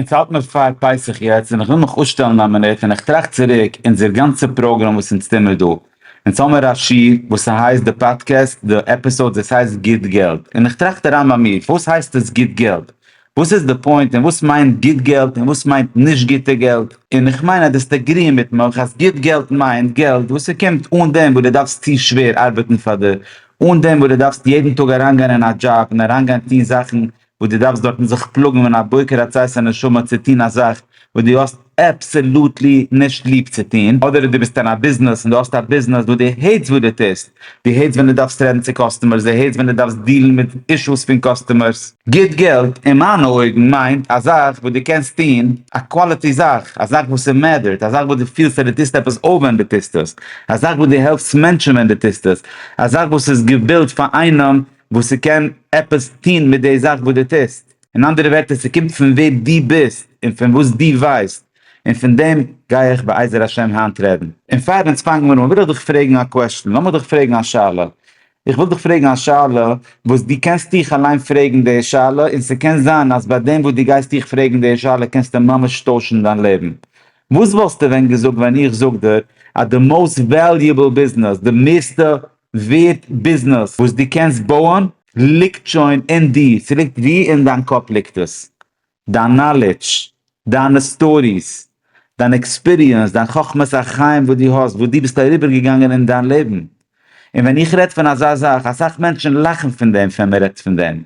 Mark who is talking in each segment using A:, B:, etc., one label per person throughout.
A: אונז האלט מיר פאר פסח יעצט און איך וויל מיך אפשטעלן א מינוט און איך טראכט צוריק אונזער גאנצע פראגראם וואס אונז טוהמער דא. אונז האמער א שיר וואס ס'הייסט די פאדקעסט, די עפיסאודס, עס הייסט גוט געלט. און איך טראכט אריין ביי מיר, וואס הייסט עס גוט געלט? וואס איז די פוינט און וואס מיינט גוט געלט און וואס מיינט נישט גוטע געלט? און איך מיין אז דאסט עגריען מיט מיך אז גוט געלט מיינט געלט וואס ס'קומט אן דעם וואס דו דארפסט צו שווער ארבעטן פאר דער, אן דעם וואס דו דארפסט יעדן טאג אריינגיין אין א דזשאב און אריינגיין טוהן זאכן וואס דו דארפסט דארטן זיך פלאגן ווען א בוקר עצי שנשמה צו טון א זאך וואס דו האסט אבסעלוטלי נישט ליב צו טון, אדער דו ביסט אין א ביזנעס און דו האסט א ביזנעס וואס דו העטסט וואס דו טוסט, דו העטסט ווען דו דארפסט רעדן צו קאסטומערס, דו העטסט ווען דו דארפסט דילן מיט אישוס פון קאסטומערס. גוט געלט, אין מיינע אויגן, מיינט א זאך וואס דו קענסט טון, א קוואליטי זאך, א זאך וואס עס מעטערט, א זאך וואס דו פילסט אז דו טוסט עפעס אויף ווען דו טוסט עס, א זאך וואס דו העלפסט מענטשן ווען דו טוסט עס, א זאך וואס איז געבילט פאר איינעם וואס ס'קען עפעס טון מיט די זאך וואס דו טוסט. אין אנדערע ווערטער, ס'קומט פון ווער דו ביסט און פון וואס דו ווייסט, און פון דעם גיי איך בעזר השם היינט רעדן. און פאר אונז פאנגן מיר אן, וויל איך דיך פרעגן א קוועשטען, לאמיך דיך פרעגן א שאלה. איך וויל דיך פרעגן א שאלה וואס דו קענסט דיך אליין פרעגן די שאלה, און ס'קען זיין אז ביי דעם וואס דו גייסט דיך פרעגן די שאלה קענסטו ממש טוישן דיין לעבן. וואס וואלסטו ווען געזאגט ווען איך זאג דיר אז די מאוסט וועליובעל ביזנעס, די מערסטע ווערט ביזנעס וואס דו קענסט בויען ליגט שוין אין דיר, ס'ליגט ווי אין דיין קאפ ליגט עס, דיין נאלידזש, דיינע סטאריס, דיין עקספיריענס, דיין חכמת החיים וואס דו האסט, וואס דו ביסט אריבער געגאנגען אין דיין לעבן, און ווען איך רעד פון אזא זאך, אסאך מענטשן לאכן פון דעם ווען מ'רעדט פון דעם,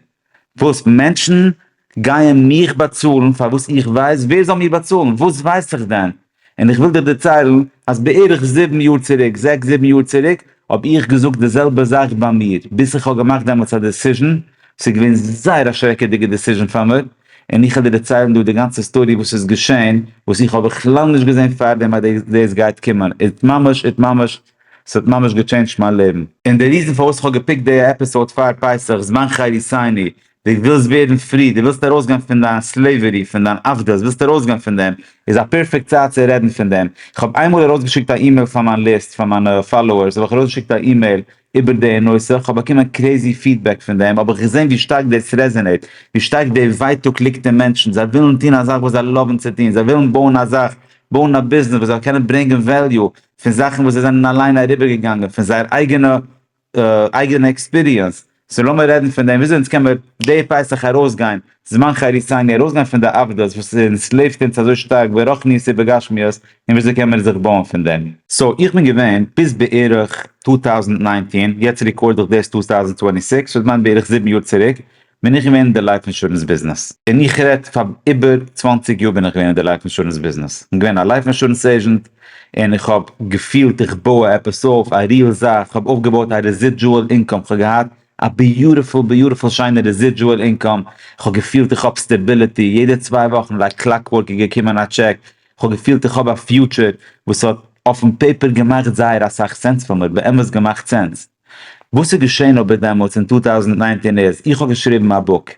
A: וואס מענטשן גייען מיך באצאלן פאר וואס איך ווייס ווער זאל מיר באצאלן? וואס ווייס איך דען? און איך וויל דיר דערציילן אז בערך זיבן יאר צוריק, זעקס זיבן יאר צוריק, האב איך געזאגט די זעלבע זאך ביי מיר, ביז איך האב געמאכט דעמאלטס א דעסיזשן, עס איז געווען זייער א שרעקעדיגע דעסיזשן פאר מיר, און איך וועל דיר דערציילן דא די גאנצע סטארי וואס איז געשען, וואס איך האב בכלל נישט געזען פארדעם אז דאס גייט קומען, איז ממש איז ממש ס'האט ממש געטשעינדזשט מיין לעבן. און די ריזן פארוואס איך האב געפיקט די עפיסאוד פאר פסח זמן חריסני, די ווילסט ווערן פרי, די ווילסט ארויסגיין פון דיין סלעווערי, פון דיין עבדות, ווילסט ארויסגיין פון דעם, איז א פערפעקט צייט צו רעדן פון דעם. איך האב איינמאל ארויסגעשיקט א אימעיל פאר מיין ליסט, פאר מיינע פאלאוערס האב איך ארויסגעשיקט א אימעיל איבער די נושא, איך האב באקומען קרעזי פידבעק פון דעם, האב איך געזען ווי שטארק דאס רעזענעיט, ווי שטארק די ווייטאג ליגט אין מענטשן, זיי ווילן טון א זאך וואס זיי לאוון צו טון, זיי ווילן בויען א זאך, בויען א ביזנעס וואס זאל קענען ברענגען וועליו, פון זאכן וואס זיי זענען אליין אריבערגעגאנגען פון זייער אייגענע אייגענע עקספיריענס, סאו לאמיר רעדן פון דעם וויאזוי אונז קען מיר די פסח ארויסגיין זמן חריתנו ארויסגיין פון די עבדות וואס אונז לעבט אונז אזוי שטארק ברחניות ובגשמיות און וויאזוי קען מיר זיך בויען פון דעם. סאו איך בין געווען ביז בערך טו טאוזענט ניינטין, יעצט ריקארד איך דאס טו טאוזענט טווענטי סיקס, סאו איך מיין בערך זיבן יאר צוריק, בין איך געווען אין די לייף אינשורענס ביזנעס, און איך רעד פאר איבער צוואַנציק יאר בין איך געווען אין די לייף אינשורענס ביזנעס, איך בין געווען א לייף אינשורענס עיזשענט, און איך האב געפילט איך בוי עפעס אויף, א ריעל זאך, איך האב אויפגעבויט א רעזידזשועל אינקאם, איך האב געהאט א ביוטיפול ביוטיפול שיינע רעזידזשועל אינקאם, איך האב געפילט איך האב סטעביליטי, יעדע צוויי וואכן לייק קלאקווארק איז געקומען א טשעק, איך האב געפילט איך האב א פיוטשער, וואס האט אויפן פעיפער געמאכט זייער אסאך סענס פאר מיר, באמת געמאכט סענס. וואס איז געשען אבער דעמאלטס אין טו טאוזנט ניינצן איז, איך האב געשריבן א בוק,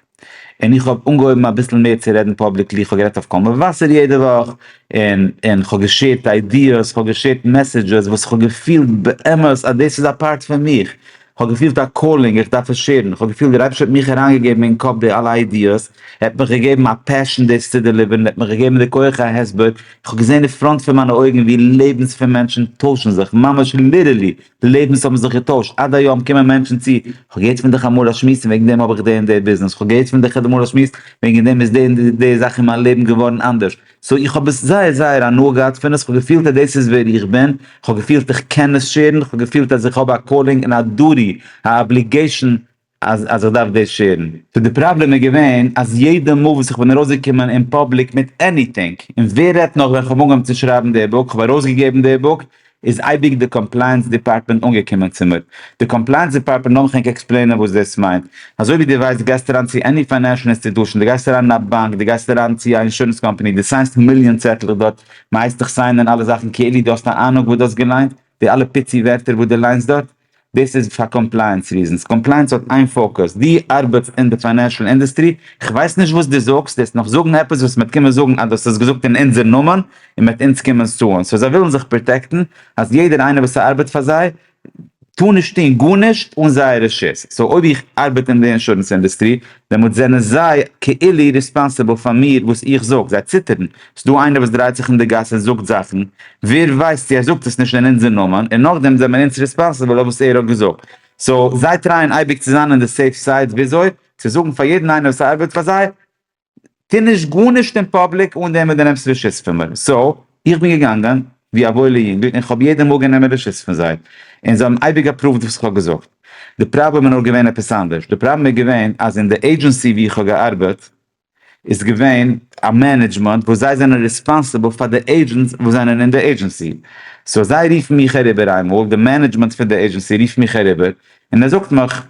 A: און איך האב אנגעהויבן אביסל מער צו רעדן פאבליקלי, איך האב גערעדט אויף קול מבשר יעדע וואך, און און כ'האב געשערט איידיעס, כ'האב געשערט מעסעדזשעס וואס כ'האב געפילט באמת אז דאס איז א פארט פון מיך, כ'האב געפילט א קאלינג איך דארף עס שערן, כ'האב געפילט דער אייבערשטער האט מיך אריינגעגעבן אין קאפ די אלע איידיעס, ער האט מיך געגעבן א פעשן דאס צו דעליווערן, ער האט מיך געגעבן די כח ההסבר, איך האב געזען אין פראנט פון מיינע אויגן ווי לעבנס פון מענטשן טוישן זיך, ממש ליטערלי, די לעבנס האבן זיך געטוישט, עד היום קומען מענטשן צו, כ'האב געהערט פון דיך אמאל א שמועס און וועגן דעם האב איך די און די ביזנעס, כ'האב געהערט פון דיך אמאל א שמועס, וועגן דעם איז די און די זאך אין מיין לעבן געווארן אנדערש. סאו איך האב עס זייער זייער הנאה געהאט פון עס, כ'האב געפילט אז דאס איז ווער איך בין, כ'האב געפילט איך קען עס שעירן, כ'האב געפילט אז איך האב א קאלינג און א דוטי, א אבליגעישאן, אז איך דארף דאס שעירן. סאו די פראבלעם איז געווען אז יעדע מאל וואס איך בין ארויסגעקומען אין פאבליק מיט עניטינג, און ווער רעדט נאך ווען כ'האב אנגעהויבן צו שרייבן די בוק, כ'האב ארויסגעגעבן די בוק, איז אייביג די קאמפלייענס דיפארטמענט אנגעקומען צו מיר. די קאמפלייענס דיפארטמענט, לאז מיך ענק עקספלעינען וואס דאס מיינט. אזוי ווי דו ווייסט, דו גייסט אריין צו עני פיינענשל אינסטיטושען, דו גייסט אריין אין א באנק, דו גייסט אריין צו א אינשורענס קאמפאני, דו סיינסט מיליאן צעטלעך דארט, מ'הייסט דיך סיינען אלע זאכן כאילו דו האסט א אהנונג וואס דו האסט געליינט, די אלע פיצי ווערטער וואס דו ליינסט דארט, דאס איז פאר קאמפלייענס ריזענס, קאמפלייענס האט איין פאוקוס, דו ארבעטסט אין די פיינענשעל אינדוסטרי, כ'ווייס נישט וואס דו זאגסט, דו וועסט נאך זאגן עפעס וואס מ'וועט קומען זאגן אז דו האסט עס געזאגט אין אונזער נאמען און מ'וועט אונז קומען סוען, סאו זיי ווילן זיך פראטעקטן אז יעדער איינער וואס ארבעט פאר זיי טאר נישט טון גארנישט אן זייער רשות, סאו אויב איך ארבעט אין די אינשורענס אינדוסטרי דעמאלט זענען זיי כאילו ריספאנסיבל פאר מיר וואס איך זאג, זיי ציטערן, ס'איז דא איינער וואס דרייט זיך אין די גאס און זאגט זאכן, ווער ווייסט צו ער זאגט עס נישט אין אונזער נאמען, און נאכדעם זענען אונז ריספאנסיבל אויף וואס ער האט געזאגט, סאו זיי טרייען אייביג צו זיין אין די סעיף סייד וויאזוי צו זאגן פאר יעדן איינער וואס ארבעט פאר זיי, טוה נישט גארנישט אין פאבליק אן דעם וואס דו נעמסט רשות פון מיר. סאו, איך בין געגאנגען ווי א וואוילע יונגל און כ'האב יעדע מאל גענומען רשות פון זיי, און זיי האבן אייביג עפראווד וואס כ'האב געזאגט. די פראבלעם איז נאר געווען עפעס אנדערש. די פראבלעם איז געווען אז אין די עידזשענסי וואו איך האב געארבעט איז געווען א מענעדזשמענט וואס זיי זענען ריספאנסיבל פאר די עידזשענטס וואס זענען אין די עידזשענסי. סאו זיי רופן מיך אריבער איינמאל, די מענעדזשמענט פון די עידזשענסי רופט מיך אריבער און ער זאגט מיך,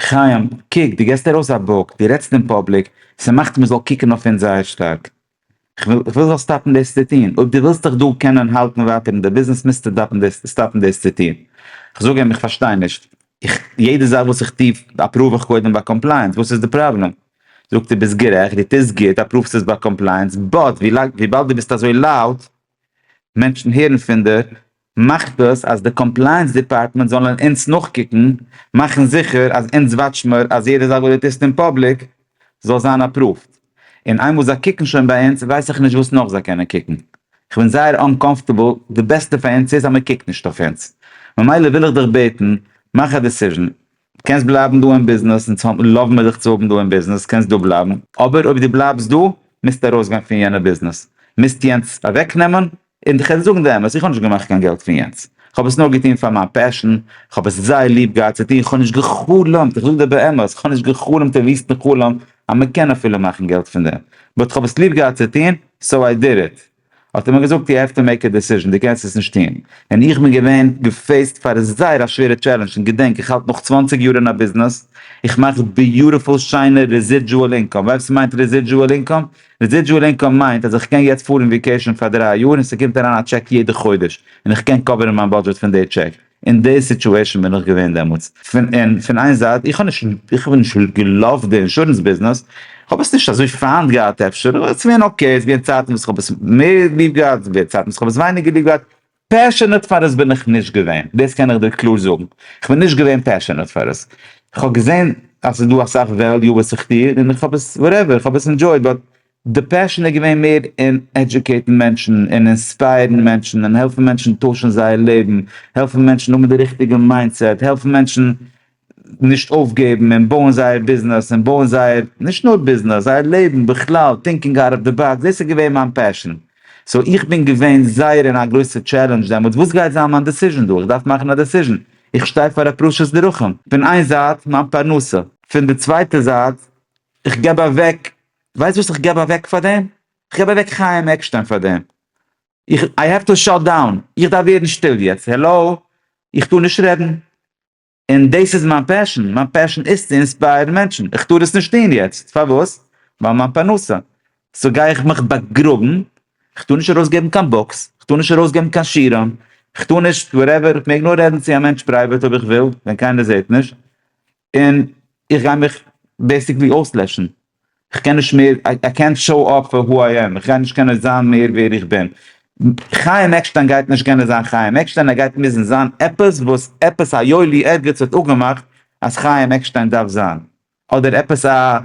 A: חיים, קוק, דו געסט ארויס א בוק, דו רעדסט אין פאבליק, ס'מאכט מ'זאל קוקן אויף אונז זייער שטארק. כ'וויל, כ'וויל זאלסט סטאפן דאס צו טון. אויב דו ווילסט דיך דא קענען האלטן ווייטער אין די ביזנעס מוזטו דאפן דאס, סטאפן דאס צו טון. כ'זאג אים, איך פארשטיי נישט. איך, יעדע זאך וואס איך טו אפראוו איך קודם ביי קאמפלייענס, וואס איז די פראבלעם? זאגט ער, ביסט גערעכט, דו טוסט גוט, אפראווסט עס ביי קאמפלייענס, באט ווילאנג, וויבאלד דו ביסט אזוי לאוט, מענטשן הערן פון דיר, מאכט דאס אז די קאמפלייענס דיפארטמענט זאלן אונז נאכקוקן, מאכן זיכער אז אונז וואטש מיר אז יעדע זאך וואס דו טוסט אין פאבליק זאל זיין אפראווד, און איינמאל זיי קוקן שוין ביי אונז ווייס איך נישט וואס נאך זיי קענען קוקן, איך בין זייער אנקאמפטעבל, די בעסטע פאר אונז איז אז מען קוקט נישט אויף אונז, ממילא וויל איך דיך בעטן, מאך א דיסיזשן, קענסט בלייבן דא אין ביזנעס, אונז לאוו מיר דיך צו האבן דא אין ביזנעס, קענסט דא בלייבן, אבער אויב דו בלייבסט דא, מוזטו ארויסגיין פון יענע ביזנעס, מוזט יענץ אוועקנעמען, און איך וועל זאגן די אמת, איך האב נישט געמאכט קיין געלט פון יענץ, איך האב עס נאר געטון פאר מיין פעשן, איך האב עס זייער ליב געהאט צו טון, איך האב נישט גע'חלומ'ט, איך זאג דיר באמת, איך האב נישט גע'חלומ'ט א וויסטן חלום אז מען קען אפילו מאכן געלט פון דעם, באט איך האב עס ליב געהאט צו טון, סאו איי דיד איט. האט ער מיר געזאגט יו העוו טו מעיק א דעסיזשן, דו קענסט עס נישט טון, און איך בין געווען געפעיסט פאר זייער א שווערע טשעלענדזש, און געדענק איך האלט נאך צוואַנציק יאר אין א ביזנעס, איך מאך ביוטיפול שיינע רעזידזשועל אינקאם, ווייסט וואס מיינט רעזידזשועל אינקאם? רעזידזשועל אינקאם מיינט אז איך קען יעצט פארן וויקעישן פאר דרײַ יאר און ס'קומט אריין א טשעק יעדע חודש און איך קען קאווערן מיין בודזשעט פון די טשעק. אין די סיטועשן בין איך געווען דעמאלטס. פון און פון איין זייט איך האב נישט איך האב נישט געלאווט די אינשורענס ביזנעס, כ'האב עס נישט אזוי פיינט געהאט אפשר, אבער ס'געווען אקעי, ס'געווען צייטן וואס כ'האב עס מער ליב געהאט, ס'געווען צייטן וואס כ'האב עס ווייניגער ליב געהאט, פעשענעט פאר עס בין איך נישט געווען, דאס קען איך דיר קלאר זאגן, כ'בין נישט געווען פעשענעט פאר עס, כ'האב געזען אז ס'איז דא אסאך וועליו וואס איך טוה און איך האב עס וואטעווער, איך האב עס ענדזשויט, באט די פעשען איז געווען מער אין עדזשוקעיטן מענטשן און אינספייערן מענטשן און העלפן מענטשן טוישן זייער לעבן, העלפן מענטשן האבן די ריכטיגע מיינדסעט, העלפן מענטשן נישט אויפגעבן און בויען זייער ביזנעס און בויען זייער, נישט נאר ביזנעס, זייער לעבן בכלל, טינקינג אוט אוו די באקס, דאס איז געווען מיין פעשן. סאו איך בין געווען זייער אין א גרויסע טשעלענדזש דעמאלטס, וואס גייט זיין מיין דעסיזשן דא? איך דארף מאכן א דעסיזשן, איך שטיי פאר א פרשת דרכים, פון איין זייט מיין פרנסה, פון די צווייטע זייט איך געב אוועק, ווייסט וואס איך געב אוועק פאר דעם? איך געב אוועק חיים עקשטיין פאר דעם, איך, איי העוו טו שאט דאון, איך דארף ווערן שטיל יעצט, העלאו, איך טאר נישט רעדן. און דאס איז מיין פעשען, מיין פעשען איז צו אינספייערן מענטשן, איך טאר עס נישט טון יעצט, פארוואס? ווייל מיין פרנסה, סאו גיי איך מיך באגראבן, איך טאר נישט ארויס געבן קיין בוקס, איך טאר נישט ארויס געבן קיין שירעם, איך טאר נישט וואטעווער, איך מעג נאר רעדן צו א מענטש פרייוועט אויב איך וויל, ווען קיינער זעט נישט, און איך גיי מיך בעיסיקלי אויסלעשן. כ'קען נישט מער, איי קענט שאו אפ פאר הו איי עם, כ'גיי נישט קענען זיין מער ווער איך בין. חיים עקשטיין גייט נישט קענען זיין חיים עקשטיין, ער גייט מוזן זיין עפעס וואס עפעס א יואלי ערגעץ האט אפגעמאכט אז חיים עקשטיין דארף זיין, אדער עפעס א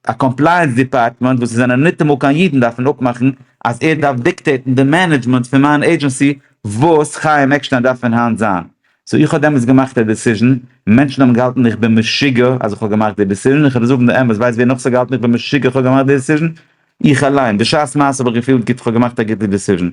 A: א קאמפלייענס דיפארטמענט וואס עס זענען ניטאמאל קיין אידן דארפן אפמאכן אז ער דארף דיקטעיטן די מענעדזשמענט פון מיין עידזשענסי וואס חיים עקשטיין דארף פון היינט זיין. סאו איך האב דעמאלטס געמאכט א דעסיזשן, מענטשן האבן געהאלטן איך בין משוגע אז איך האב געמאכט די דעסיזשן, איך וועל דיר זאגן די אמת, ווייסט ווער נאך ס'האט געהאלטן איך בין משוגע איך האב געמאכט די דעסיזשן? איך אליין, בשעת מעשה האב איך געפילט גוט איך האב געמאכט א גוטע דעסיזשן,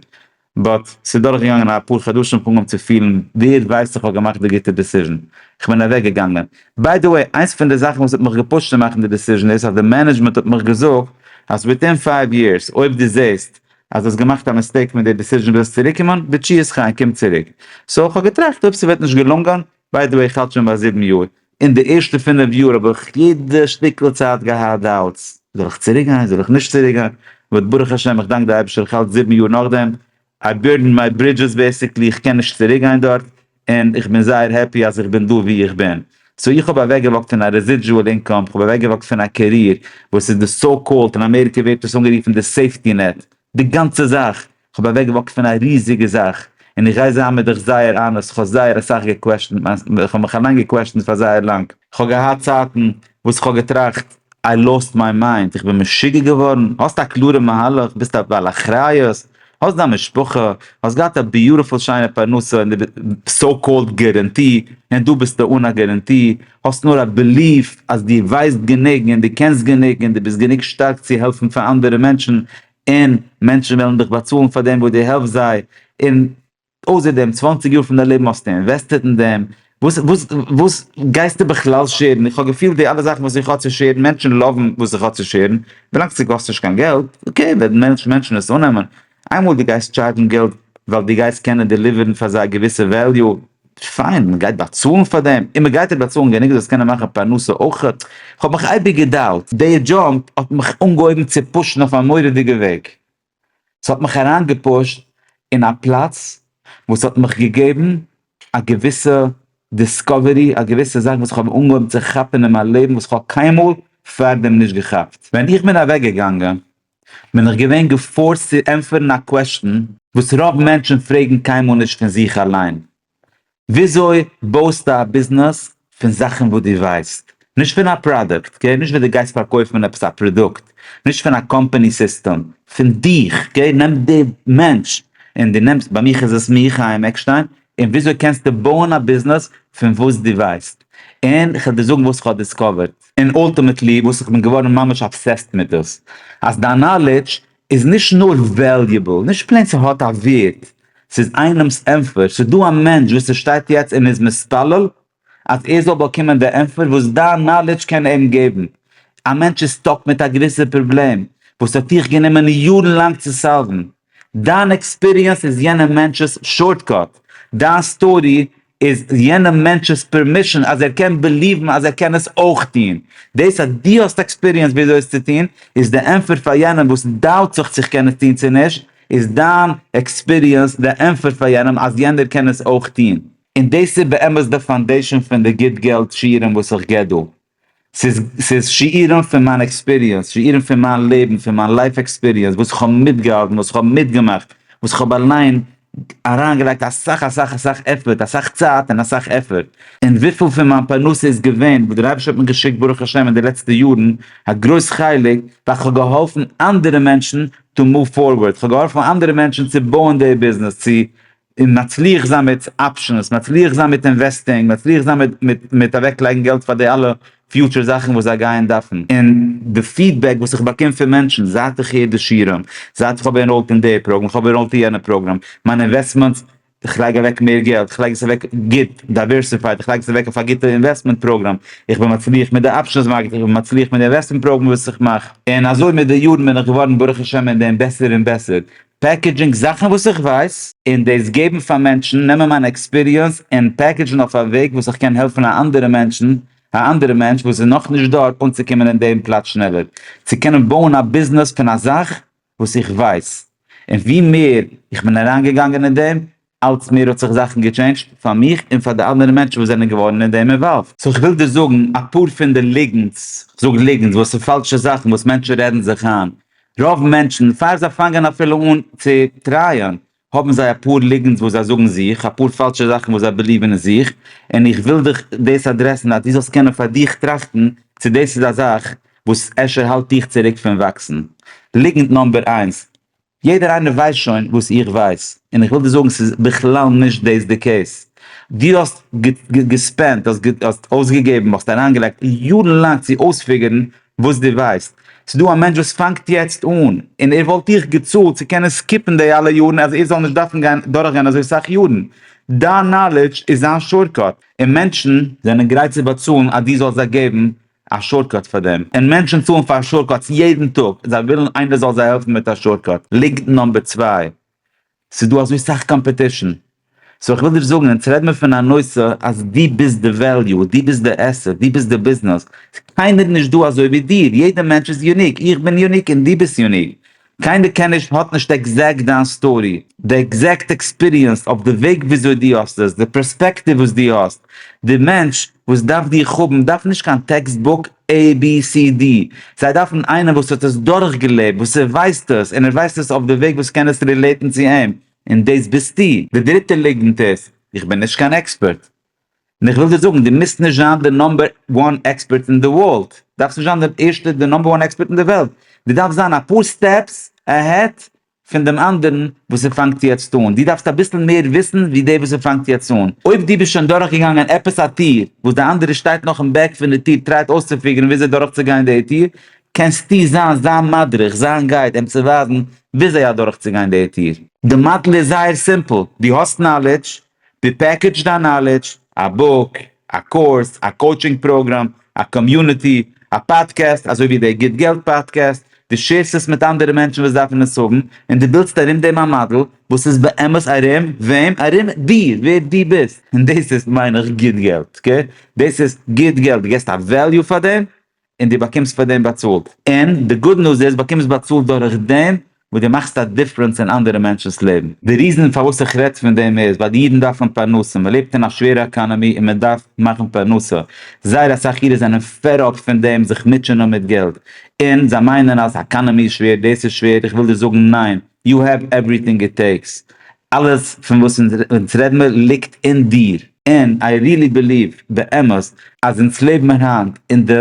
A: באט ס'איז דורך געגאנגען אפאר חדשים איך האב אנגעהויבן צו פילן ווער ווייסט איך האב געמאכט די גוטע דעסיזשן, איך בין אוועק געגאנגען. ביי די וועי איינס פון די זאכן וואס האט מיך געפושט צו מאכן די דעסיזשן איז אז די מענעדזשמענט האט מיך געזאגט אז וויטין פייוו יערס אויב דו זעסט אז דו האסט געמאכט א מיסטעיק מיט די דיסיזשען ווילסט צוריק קומען, בתשיית חיי קום צוריק. סאו איך האב געטראכט אויב ס'וועט נישט געלונגען, ביי די וועי איך האלט שוין ביי זיבן יאר, אין די ערשטע פינף יאר האב איך יעדע שטיקל צייט געהאט דאוטס, זאל איך צוריק גיין זאל איך נישט צוריק גיין, ועוד ברוך השם איך דאנק די אייבישטער איך האלט זיבן יאר נאכדעם, איי בירדענד מיי ברידזשעס בעסיקלי איך קען נישט צוריק גיין דארט, און איך בין זייער העפי אז איך בין דא ווי איך בין. סאו איך האב אוועקגעוואקט פון א רעזידזשועל אינקאם, איך האב אוועקגעוואקט פון א קעריער וואס איז די סאו קאלד, אין אמעריקע ווערט עס אנגערופן די סעיפטי נעט, די גאנצע זאך, איך האב אוועקגעוואקט פון א ריזיגע זאך, און איך גיי זיין מיט דיך זייער אנעסט, איך האב זייער אסאך געקוועשענט מיין, איך האב מיך אליין געקוועשענט פאר זייער לאנג. איך האב געהאט צייטן וואס איך האב געטראכט איי לאוסט מיי מיינד, איך בין משוגע געווארן, האסט א קלארע מהלך, ביסט א בעל אחריות, האסט דיין משפחה, האסט געהאט א ביוטיפול שיינע פרנסה און די סאו קאלד גערענטי, און דא ביסטו אן א גערענטי, האסט נאר א בעליף אז דו ווייסט גענוג און דו קענסט גענוג און דו ביסט גענוג שטארק צו העלפן פאר אנדערע מענטשן, און מענטשן וועלן דיך באצאלן פאר דעם וואס דו העלפסט זיי, און אויסער דעם צוואנציג יאר פון דיין לעבן האסטו אינוועסטעט אין דעם, וואס וואס וואס גייסטו בכלל שערן? איך האב געפילט די אלע זאכן וואס איך האב צו שערן, מענטשן לאוון וואס איך האב צו שערן, ווילאנג ס'קאסט נישט קיין געלט, אקעי וועלן מענטשן עס אננעמען, איינמאל דו גייסט טשארדזשן געלט ווייל דו גייסט קענען דעליווערן פאר זיי א געוויסע וועליו, פיין, מען גייט באצאלן פאר דעם, און מען גייט אויך באצאלן גענוג דו זאלסט קענען מאכן פרנסה אויך, איך האב מיך אייביג גע'דאוב'ט. די דזשאב האט מיך אנגעהויבן צו פושן אויף א מורא'דיגע וועג, ס'האט מיך אריינגעפושט אין א פלאץ וואס האט מיך געגעבן א געוויסע דיסקאווערי, א געוויסע זאך וואס כ'האב אנגעהויבן צו כאפן אין מיין לעבן וואס כ'האב קיינמאל פאר דעם נישט געכאפט. ווען איך בין אוועק געגאנגען בין איך געווען געפארסט צו ענטפערן א קוועשטן וואס רוב מענטשן פרעגן קיינמאל נישט פון זיך אליין, וויאזוי בויסטו א ביזנעס פון זאכן וואס דו ווייסט? נישט פון א פראדוקט, אקעי? נישט וואס דו גייסט פארקויפן עפעס א פראדוקט, נישט פון א קאמפאני סיסטעם, פון דיך, אקעי? נעם די מענטש און דו נעמסט, ביי מיך איז עס מיר, חיים עקשטיין, און וויאזוי קענסטו בויען א ביזנעס פון וואס דו ווייסט? און כ'וועל דיר זאגן וואס כ'האב דיסקאווערד, און אלטימעטלי וואס כ'בין געווארן ממש אבסעסט מיט דאס, אז דיין נאלעדזש איז נישט נאר וועליעבל, נישט פלעין ס'האט א ווערד, ס'איז איינעמ'ס ענטפער, ס'איז דא א מענטש וואס ס'שטייט יעצט און איז מתפלל אז ער זאל באקומען די ענטפער וואס דיין נאלידזש קען אים געבן, א מענטש איז סטאק מיט א געוויסע פראבלעם וואס האט דיך גענומען יארן לאנג צו סאלוון, דיין עקספיריענס איז יענע מענטש'ס שארטקאט, דיין סטארי איז יענע מענטש'ס פערמישאן אז ער קען בעליוון אז ער קען עס אויך טוהן. דאס אז דו האסט עקספיריענס וויאזוי עס צו טוהן, איז די ענפער פאר יענעם וואס דאובט זיך צו כ'קען עס טוהן צו נישט, איז דיין עקספיריענס די ענפער פאר יענעם אז יענער קען עס אויך טוהן. און דאס איז באמת די פאנדעישאן פון די גוט געלט שיעורים וואס איך גיב דא. ס'איז ס'איז שיעורים פון מיין עקספיריענס, שיעורים פון מיין לעבן, פון מיין לייף עקספיריענס, וואס איך האב מיטגעהאלטן, וואס איך האב מיטגעמאכט, וואס איך האב אליין אריינגעלייגט אסאך אסאך אסאך עפערט, אסאך צייט און אסאך עפערט, און וויפיל פון מיין פרנסה איז געווען וואס דער אייבערשטער האט מיר געשיקט ברוך השם אין די לעצטע יארן, א גרויס חלק ווייל איך האב געהאלפן אנדערע מענטשן טו מאוו פארווארד, איך האב געהאלפן אנדערע מענטשן צו בויען די ביזנעס, צו און מצליח זיין מיט אפשענס, מצליח זיין מיט אינוועסטינג, מצליח זיין מיט מיט מיט אוועק לייגן געלט פאר די אלע פיוטשער זאכן וואס זיי גייען דארפן, און די פידבעק וואס איך באקום פון מענטשן זייט איך הער די שירעם, זייט איך האב ענראלט אין די פראגראם, איך האב ענראלט אין יענע פראגראם, מיינע אינוועסטמענטס, איך לייג אוועק מער געלט, איך לייג עס אוועק גוט, דייווערסיפייד, איך לייג עס אוועק אויף א גוטע אינוועסטמענט פראגראם, איך בין מצליח מיט די אפשענס מארקעט, איך בין מצליח מיט די אינוועסטמענט פראגראם וואס איך מאך, און אזוי מיט די יארן בין איך געווארן ברוך השם אין דעם בעסער און בעסער, פעקעדזשינג זאכן וואס איך ווייס, און דאס געבן פאר מענטשן, נעמען מיין עקספיריענס און פעקעדזשן אויף א וועג וואס איך קען העלפן א אנדערע מענטשן, א אנדערע מענטש וואס איז נאכנישט דארט אנצוקומען אין דעם פלאץ שנעלער, צו קענען בויען א ביזנעס פון א זאך וואס איך ווייס, און ווי מער איך בין אריינגעגאנגען אין דעם, אלץ מער האט זיך זאכן געטשעינדזשט פאר מיך און פאר די אנדערע מענטשן וואס זענען געווארן אין דעם אינוואלווד. סאו כ'וויל דיר זאגן אפאר פון די ליגנטס, כ'זאג ליגנטס ווייל ס'איז פאלשע זאכן וואס מענטשן רעדן זיך איין, רוב מענטשן פאר זיי פאנגען אפילו אן צו טרייען האבן זיי אפאר ליגנטס וואס זיי זאגן זיך, אפאר פאלשע זאכן וואס זיי בעליווען אין זיך, און איך וויל דיך דאס אדרעסן אז דו זאלסט קענען פאר דיך טראכטן צו דאס איז א זאך וואס אפשר האלט דיך צוריק פון וואקסן. ליגנט נאמבער איינס, יעדער איינער ווייסט שוין וואס איך ווייס, און איך וויל דיר זאגן ס'איז בכלל נישט דאס די קעיס. דו האסט געספענדט, האסט אויסגעגעבן, האסט אריינגעלייגט יארן לאנג צו אויספיגערן וואס דו ווייסט. ס'איז דא א מענטש וואס פאנגט יעצט אן, און ער וואלט דיך געצאלט צו קענען סקיפן די אלע יארן אז ער זאל נישט דארפן גיין דורכגיין אזוי סאך יארן. דיין נאלעדזש איז זיין שארטקאט, און מענטשן זענען גרייט צו באצאלן אז דו זאלסט זיי געבן א שארטקאט פאר דעם, און מענטשן צאלן פאר שארטקאטס יעדן טאג, זיי ווילן איינער זאל זיי העלפן מיט א שארטקאט, ליגנט נאמבער צוויי, ס'איז דא אזוי סאך קאמפעטישן, סאו איך וויל דיר זאגן, אונז רעד מיר פון א נושא אז דו ביסט די וועליו, דו ביסט די עסעט, דו ביסט די ביזנעס, ס'איז קיינער נישט דא אזוי ווי דיר, יעדע מענטש איז יוניק, איך בין יוניק און דו ביסט יוניק, קיינער קען נישט האט נישט עקזעקט דיין סטארי, די עקזעקט עקספיריענס אויף די וועג וויאזוי דו האסט עס, די פערספעקטיוו וואס דו האסט, די מענטש וואס דארף דיך האבן דארף נישט קיין טעקסט בוק abcd, זיי דארפן איינער וואס האט עס דורך געלעבט, וואס ער ווייסט עס, און ער ווייסט עס אויף די וועג וואס קען עס רילעיטן צו אים, און דאס ביסטו. די דריטע ליגנט איז, איך בין נישט קיין עקספערט. און איך וויל דיר זאגן, דו מוזט נישט זיין די נאמבער וואן עקספערט אין די ווארלד, דארפסט נישט זיין די ערשטע די נאמבער וואן עקספערט אין די וועלט, דו דארפסט זיין אפאר סטעפס עהעד פון דעם אנדערן וואס ער פאנגט יעצט אן, דו דארפסט אביסל מער וויסן ווי דער וואס ער פאנגט יעצט אן, אויב דו ביסט שוין דורכגעגאנגען עפעס א טיר וואס דער אנדערער שטייט נאך אין בעק פון די טיר טרייט אויסצופיגערן וויאזוי דורכצוגיין די טיר, קענסטו זיין זיין מדריך, זיין גייד, אים צו ווייזן וויאזוי אדורכצוגיין די טיר. די מאדעל איז זייער סימפל, דו האסט נאלידזש, די פעקעדזש דיין נאלעדזש, א בוק, א קורס, א קאוטשינג פראגראם, א קאמיוניטי, א פאדקעסט אזוי ווי דער גוט געלט פאדקעסט, דו שעירסט עס מיט אנדערע מענטשן וואס דארפן עס האבן, און דו בילדסט ארום דעם א מאדעל וואס איז באמת ארום וועם? ארום דיר, ווער דו ביסט, און דאס איז מיין איך גוט געלט, אקעי? דאס איז גוט געלט, דו געסט א וועליו פאר דעם? און דו באקומסט פאר דעם באצאלט, און די גוד ניוז איז באקומסט באצאלט דורך דעם וואס דו מאכסט א דיפרענס אין אנדערע מענטשנ'ס לעבן. די ריזען פארוואס איך רעדט פון דעם איז ווייל די אידן דארפן פרנסה, מען לעבט אין א שווערע עקאנעמי און מען דארף מאכן פרנסה, זייער אסאך אידן זענען פעד אפ פון דעם זיך מוטשענען מיט געלט, און זיי מיינען אז עקאנעמי איז שווער, דאס איז שווער, איך וויל דיר זאגן ניין, יו העוו עווריטינג איט טעיקס, אלעס פון וואס אונז רעד מיר ליגט אין דיר. ענד איי ריעלי ביליוו באמת אז אונז לעבן היינט אין די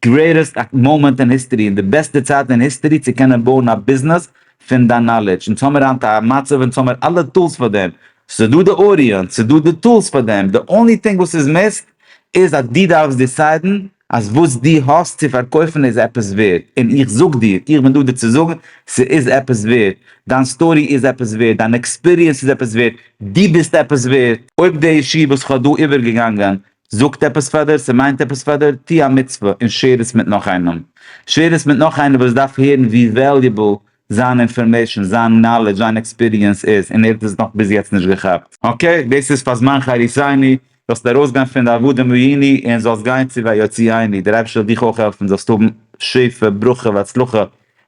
A: גרעיטעסט מאמענט אין היסטערי, אין די בעסטע צייט אין היסטערי צו קענען בויען א ביזנעס פון דיין נאלעדזש, אונז האמיר היינט א מצב אונז האמיר אלע טולס פאר דעם, ס'איז דא די אודיענס, ס'איז דא די טולס פאר דעם, די אנלי טינג וואס איז מיסט, איז אז דו דארפסט דיסיידן אז וואס דו האסט צו פארקויפן איז עפעס ווערד, און איך זאג דיר, איך בין דא דיר צו זאגן, ס'איז עפעס ווערד, דיין סטארי איז עפעס ווערד, דיין עקספיריענס איז עפעס ווערד, דו ביסט עפעס ווערד. אויב די אישי וואס איך האב דא איבערגעגאנגען זאגט עפעס פאר דיר, ס'מיינט עפעס פאר דיר, טו א מצוה און שעיר עס מיט נאך איינעם. שעיר עס מיט נאך איינער וואס דארף הערן ווי וועליובעל זיין אינפארמעישן, זיין נאלעדזש, זיין עקספיריענס איז, און ער האט עס נאך ביז יעצט נישט געכאפט. אקעי, דאס איז פאר זמן חריפייני, זאלסט ארויסגיין פון די עבדים ראיני און זאלסט גיין צו ויוציא עיני, דער אייבערשטער זאל דיך אויך העלפן זאלסט האבן שפע, ברכה והצלחה,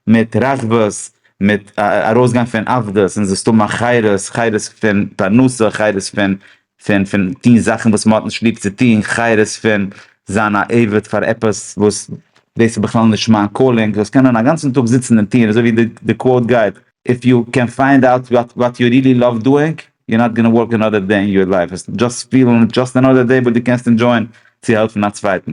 A: מיט רחבות, מיט ארויסגיין פון עבדות און זאלסט האבן א חירות, חירות פון פרנסה, חירות פון פון פון טון זאכן וואס מען האט נישט ליב צו טון, חירות פון זיין א עבד פאר עפעס וואס דאס איז בכלל נישט מיין קאלינג, דאס קענען א גאנצן טאג זיצן און טון, אזוי ווי די די קוואוט גייט, איף יו קען פיינד אוט וואט יו רילי לאוו דואינג, יו נאט גאנא ווארק אנאדער דעי אין יור לייף, וועסט דשאסט פילן דשאסט אנאדער דעי וואס דו קענסט ענדשויען צו העלפן א צווייטן.